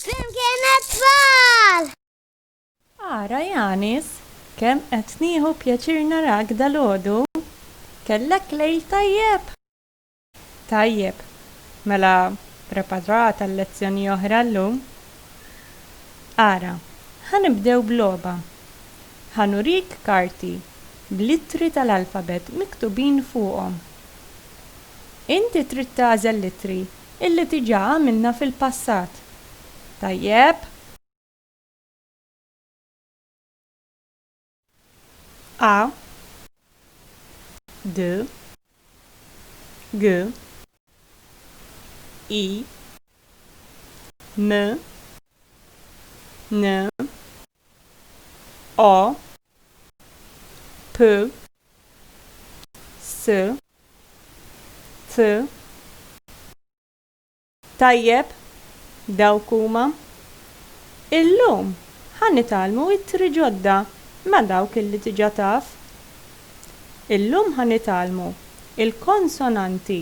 Flimkien għat-tfal! Ara Yanis, kemm qed nieħu pjaċir narak dalgħodu! Kellek lejl tajjeb? Tajjeb. Mela preparat għal lezzjoni oħra llum? Ara, ħa nibdew b'logħba. Ħa nurik karti bl-ittri tal-alfabet miktubin fuqhom. Inti trid tagħżel l-ittri illi diġà għamilna fil-passat. Tajjeb? A D G I M N O P S T Tajjeb, dawk huma. Illum ħa nitgħallmu ittri ġodda ma' dawk li diġà taf. Illum ħa nitgħallmu l-konsonanti.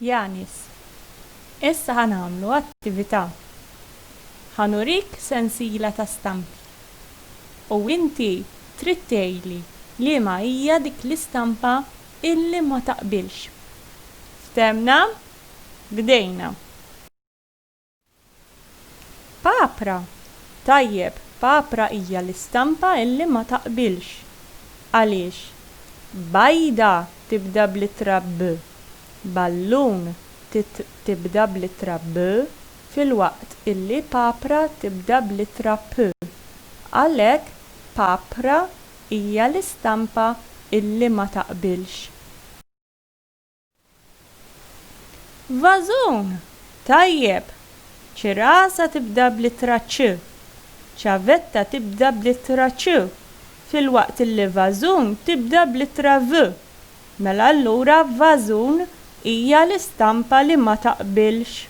Yanis, Issa ħa nagħmlu attività. Ħa nurik sensiela ta' stampi u inti trid tgħidli liema hija dik l-istampa illi ma taqbilx. Fthemna? Bdejna. Papra! Tajjeb, papra hija l-istampa illi ma taqbilx. Għaliex? Bajda tibda bl-ittra b. Ballun titr tibda bl-ittra b filwaqt illi papra tibda bl-ittra p. Għalhekk papra hija l-istampa illi ma taqbilx. Vażun! Tajjeb! Cirasa tibda bl-ittra ċ. Ċavetta tibda bl-ittra ċ filwaqt li vażun tibda bl-ittra v. Mela allura vażun hija l-istampa li ma taqbilx.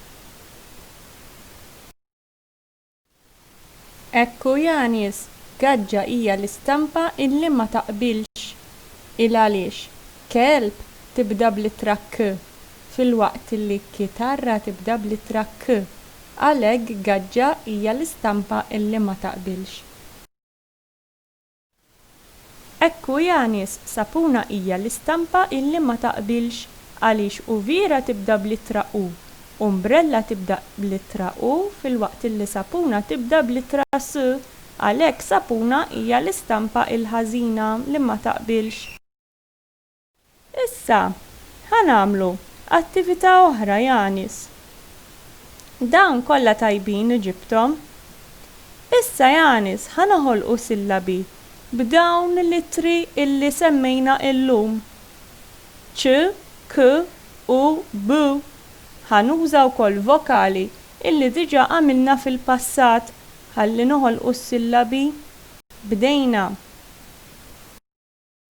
Hekk hu ja nies, gaġġa hija l-istampa illi ma taqbilx. Il għaliex kelb tibda bl-ittra k, filwaqt li kitarra tibda bl-ittra k. Għalhekk gaġġa hija l-istampa illi ma taqbilx. Hekk hu janies, sapuna hija l-istampa illi ma taqbilx għaliex uviera tibda bl-ittra u, umbrella tibda bl-ittra u filwaqt illi sapuna tibda bl-ittra s. Għalhekk sapuna hija l-istampa il-ħażina li ma taqbilx. Issa, ħa nagħmlu attività oħra, Janis. Dawn kollha tajbin li ġibthom. Issa, Janis, ħa noħolqu sillabi b'dawn l-ittri illi semmejna llum, ċ, k, u b. Ħa nuża wkoll vokali illi diġà għamilna fil-passat ħalli noħolqu s-sillabi. Bdejna.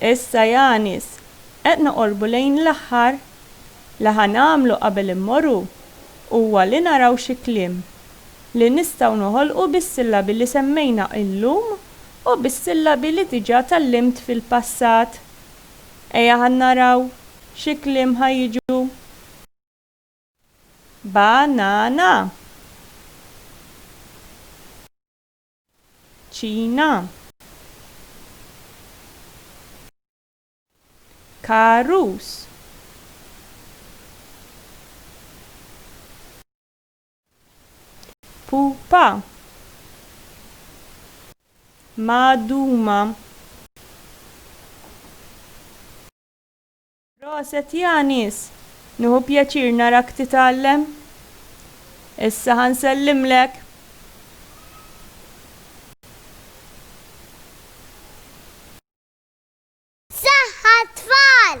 Issa Janis, qed noqorbu lejn l-aħħar. Li ħa nagħmlu qabel immoru huwa li naraw xi kliem li nistgħu noħolqu bis-sillabi li semmejna illum u bis-sillabi li diġa tgħallimt fil-passat. Ejja ħa naraw xi kliem ħa jiġu. Ba-na-na. ċina karus pupa magħduma Proset ja nies! Nieħu pjaċir narak titgħallem. Issa ħa nsellimlek. Saħħa tfal!